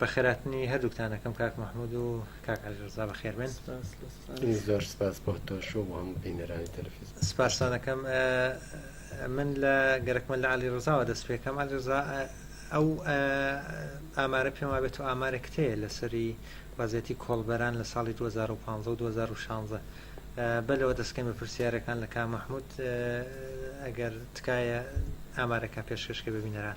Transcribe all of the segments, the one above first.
بەخێراتنی هەردووکتان ئەکەم کاک محمود و کاک علی رزا بەخێر بێن زۆر سپاس بۆ تۆش و هەموو بینەرانی تەلفیز سپاسانەکەم من لە گەرەکمە لە علی رزاوە دەست پێکەم علی رزا ئەو ئامارە پێم وابێت و ئامارێک کتەیە لەسەری وەزیەتی کۆڵبەران لە ساڵی 2015 و 2016 بەلەوە دەستکەم بە پرسیارەکان لە کا مححمود ئەگەر تکایە ئامارەکە پێشکەشکە ببینەران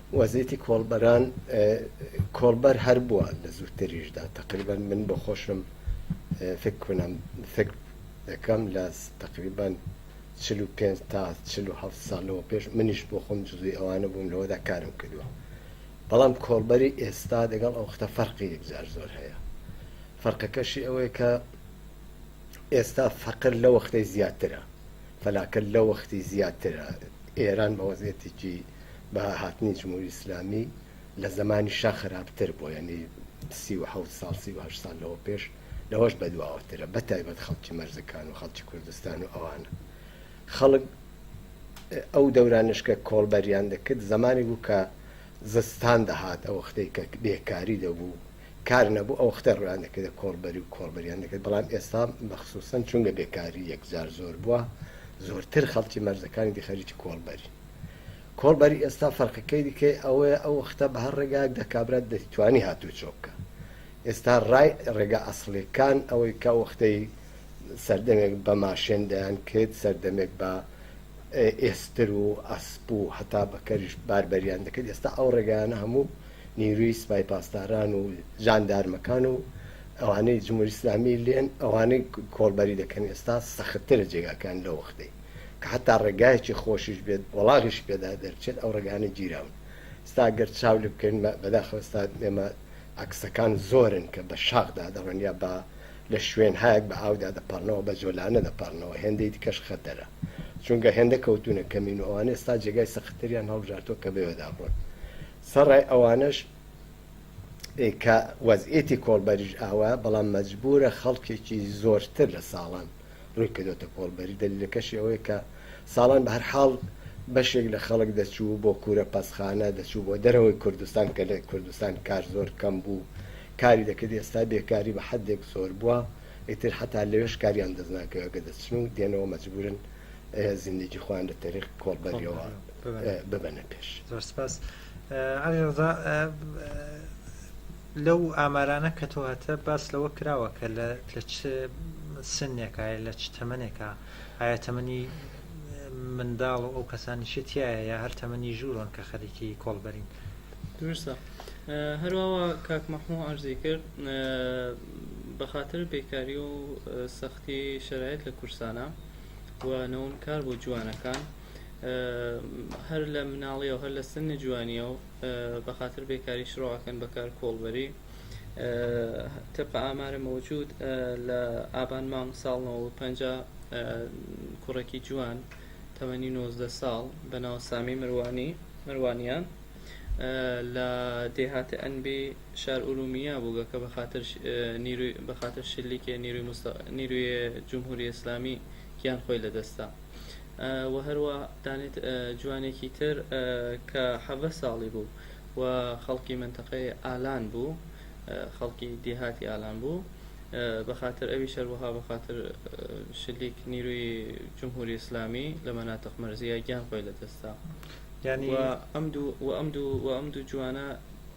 وەزیتی کۆڵبەران کۆڵبەر هەر بووە لە زووتریشدا تقریبان من بۆ خۆشم فکر کنم فکر دەکەم لە تقریبان 45 تا 47 ساڵەوە پێش منیش بۆ خۆم جزوی ئەوانە بووم لەوەدا کارم کردووە بەڵام کۆڵبەری ئێستا دەگەڵ ئەو ختە فەرقی یەکجار زۆر هەیە فەرقەکەشی ئەوەیە کە ئێستا فەقر لە وەختەی زیاترە پەلاکە لەوەختی زیاترە ئێران بەوەزعیەتێکی بەها هاتنی جمهوری ئیسلامی لەزەمانی شا خەراپتر بوە یەعنی سی و حەوت ساڵ سی و هەشت ساڵ لەوە پێش لەوەش بەدواوەترە بەتایبەت خەڵکی مەرزەکان و خەڵکی کوردستان و ئەوانە خەڵک ئەو دەورانش کە کۆڵبەریان دەکرد زەمانی بوو کە زستان دەهات ئەوەختەی کە بێکاری دەبوو کار نەبوو ئەو وەختە ڕوویان دەکردە کۆڵبەری و کۆڵبەریان دەکرد بەڵام ئێستا بە خسووسەن چونگە بێکاری یەکجار زۆر بووە زۆرتر خەڵکی مەرزەکانی دی خەریکی کۆڵبەرین کۆڵبەری ئێستا فەرقەکەی دیکەی ئەوەیە ئەو وەختە بە هەر ڕێگایەک دا کابرا دەتوانی هاتوو چۆ بکا ئێستا ڕای ڕێگا ئەسڵیەکان ئەوەی کە وەختەی سەردەمێک بە ماشێن دەیان کرد سەردەمێک بە ئێستر و ئەسپ و هەتا بەکەریش باربەریان دەکرد ئێستا ئەو ڕێگایانە هەموو نیروی سپای پاسداران و جاندارمەکان و ئەوانەی جمهوری اسلامی لێن ئەوانەی کۆڵبەری دەکەن ئێستا سەختترە جێگاکان لەو وەختەی کە حتا ڕێگایەکی خۆشیش بێت وەڵاغیش پێدا دەرچێت ئەو ڕێگانە گیراون ستا گەر چاو لێ بکەین بەداخەوەستا ئێمە عکسەکان زۆرن کە بە شاخدا دەڕۆن یا بە لە شوێن هاک بە ئاودا دەپەڕنەوە بە جۆلانە دەپەڕنەوە هێندەی دیکەش خەتەرە چونگە هێندە کەوتونە کەمین و ئەوانێ ستا جێگای سەختتریان هەڵبژارتۆ کە بێوەدا بڕۆن سەڕای ئەوانەش کە وەزعیەتی کۆڵبەریش ئاوایە، بەڵام مەجبوورە خەڵکێکی زۆرتر لە ساڵان ڕووی کردۆتە کۆڵبەری، دەلیلەکەشی ئەوەیە کە ساڵان بە هەر حاڵ بەشێک لە خەڵک دەچوو بۆ کوورە پەسخانە، دەچوو بۆ دەرەوەی کوردستان کە لە کوردستان کار زۆر کەم بوو کاری دەکرد، ئێستا بێکاری بە حەدێک زۆر بووە ئیتر حەتا لەوێش کاریان دەست ناکەوێ گە دەچن و دێنەوە مەجبوورن. زیندەگی خۆیان لە تەریق کۆڵبەریەوە ببەنە پێش زۆر سپاس علی ڕزا لەو ئامارانە کە تۆ هەتە باس لەوە کراوە کە لە لە چ سنێکە لە چ تەمەنێکە ئایا تەمەنی منداڵ و ئەو کەسانی شتیایە یا هەر تەمەنی ژوورۆن کە خەریکی کۆڵبەرین درستە هەروەوە کاکمەحموو ئارزی کرد بە خاطر بێکاری و سەخت تی شەرایت لە کورسانە و نەوم کار بۆ جوانەکان هەر لە مناڵی و هەر لە سنی جوانیە و بە خاطر بێکاری شڕواکەن بەکار کۆڵبەری تەپە ئامارە مەوجود لە ئابان مانگ ساڵەوە پ کوڕێکی جوان تەمەنی 19 ساڵ بە ناو سامی مروانی مروانیان لە دێهاتە ئەنبی شار ئورومیە بوو گە کە بە خاتر نیروی بە خاتر شلی کێ نیروی مست نیروی جمهوری اسلامی گیان خۆی لە دەستا و هەروە دانێت جوانێکی تر کە حەڤە ساڵی بوو و خەڵکی منتەقەی ئالان بوو خەڵکی دیهاتی ئالان بوو بە خاتر ئەوی شەروەها بە خاتر شلیک نیروی جمهوری اسلامی لە مەناتق مەرزیە گیان خۆی لە دەستا یعنی و ئەم دوو و ئەم دوو و ئەم دوو جوانە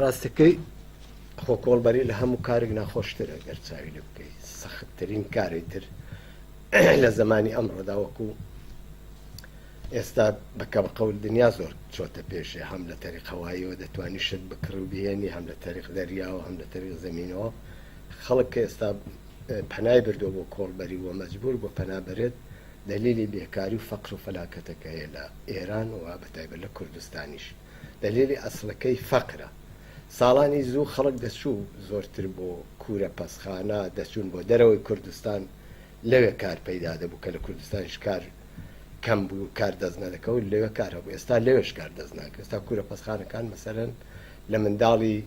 ڕاستەکەی خۆ کۆڵبەری لە هەموو کارێک ناخۆشترە گەر چاوی لە بکەیت سەختترین کاری تر لە زمانی ئەمڕۆدا وەکو ئێستا بەکەم قەول دنیا زۆر چۆتە پێشێ هەم لە تەریق هەوایەوە دەتوانانی شت بکڕ و بهێنی هەم لە تەریق دەریاوە هەم لە تەریق زمینەوە خەڵک کە ئێستا پەنای بردەوە بۆ کۆڵبەری وە مەجبور بۆ پەنابرێت دەلیلی بێکاری و فەقر و فەلاکەتەکە هەیە لە ئێران و بە تایبەت لە کوردستانیش دەلیلی ئەسڵەکەی فەقرە ساڵانی زوو خەڵک دەچوو زۆرتر بۆ کورە پەسخانە دەچوون بۆ دەرەوەی کوردستان لەوێ کار پەیدا دەبوو کە لە کوردستانیش کار کەم بوو کار دەست نەدەکەوت لەوێ کار هەبوو ئێستا لەوێش کار دەست ناکە ئێستا کورە پەسخانەکان مەسەرەن لە منداڵی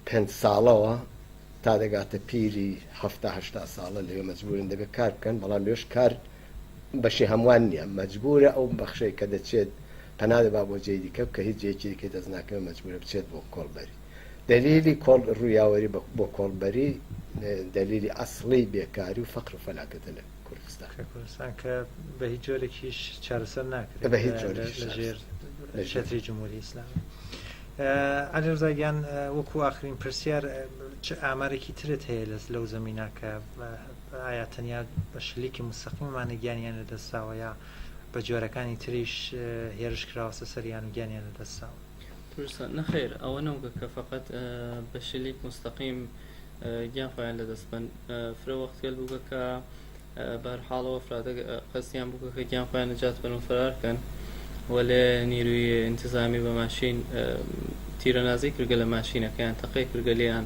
پێنج ساڵەوە تا دەگاتە پیری هەفتا هەشتا ساڵە لەوێ مەجبورن دەبێت کار بکەن بەڵام لەوێش کار بەشی هەموان نیە مەجبورە ئەو بەخشەی کە دەچێت پەنا دەبا بۆ جێی دیکە بکە هیچ جێیەکی دیکەی دەست ناکەوێت مەجبورە بچێت بۆ کۆڵبەری دەلیلی کۆڵ ڕویاوەری بۆ کۆڵبەری دەلیلی ئەسڵی بێکاری و فەقر و فەلاکەتە لە کوردستان کە کوردستان کە بە هیچ جۆرێکیش چارەسەر ناکرێت بە هیچ جۆرێک لە ژێر لە شەتری جمهوری ئیسلامی عەلێرزاگیان وەکو ئاخرین پرسیار ئامارێکی ترت هەیە لەس لەو زمینە کە ئایا تەنیا بە شلیکی موستەقیمەمانە گیانیان لەدەستداوە یا بە جۆرەکانی تریش هێرش کراوەسە سەریان و گیانیان لەدەستداوە؟ کوردستان، نەخێر ئەوە نەوگە کە فەقەت بە شلیک موستەقیم گیان خۆیان لەدەست بەن فرە وەختگەل بووگە کە بەرحاڵەوە فرادە قەستیان بووگە کە گیان خۆیان نەجات بەن و فرار کەن وەلێ نیروی انتظامی بە ماشین تیرەنازی کردگە لە ماشینەکەیان تەقەی کردگە لێیان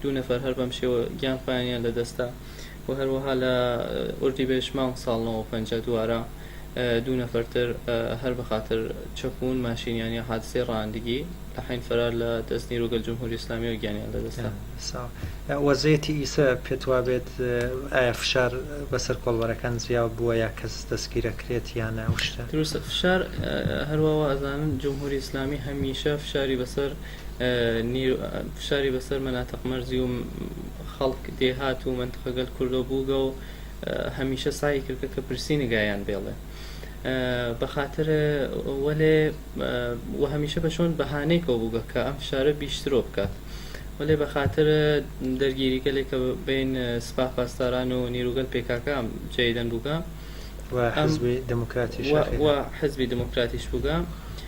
دوو نەفەر هەر بەم شێوە گیان پایانیان لە دەست دا و هەروەها لە ئوردیبێژ مانگ ساڵ نۆ و پەنجا دوارە دوو نەفەر تر هەر بە خاتر چەپوون ماشینیان یا حادسەی ڕانندگی لە حەین فەرار لە دەست نیروگەل جمهوری ئیسلامیەوە گیانیان لە دەست دا. سا وەزەیەتی ئیسە پێت وابێت ئایا فشار بەسەر کۆڵبەرەکان زیاو بووە یا کەس دەستگیرە کرێت یان ئەو شتە؟ دروستە فشار هەرواوە ئەزانن جمهوری ئیسلامی هەمیشە فشاری بەسەر فشاری بەسەر مەناتق مەرزی و خەڵک دێهات و مەنتقە گەل کوردۆ بووگە و هەمیشە سای کردکە کە پرسی نگایان بێڵێ بەخاتر وەلێ و هەمیشە بە شۆن بەهانەی کۆ بووگە کە ئەم فشارە بیشترۆ بکات وەلێ بەخاتر دەرگیری گەلێک کە بین سپاه پاسداران و نیروگەل پێکاکە جێدەن بووگە و حزبی دموکراتیش بووگە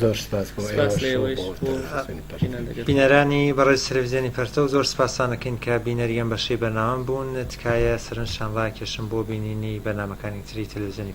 زۆر سپاس بۆ ئێوەش و بۆ بینەرانی بەڕێز تەلەفزیۆنی پەرتەو زۆر سپاستان دەکەین کە بینەری ئەم بەشەی بەرنامەم بوون تکایە سەرنجتان ڕاکێشن بۆ بینینی بەرنامەکانی تری تەلەفزیۆنی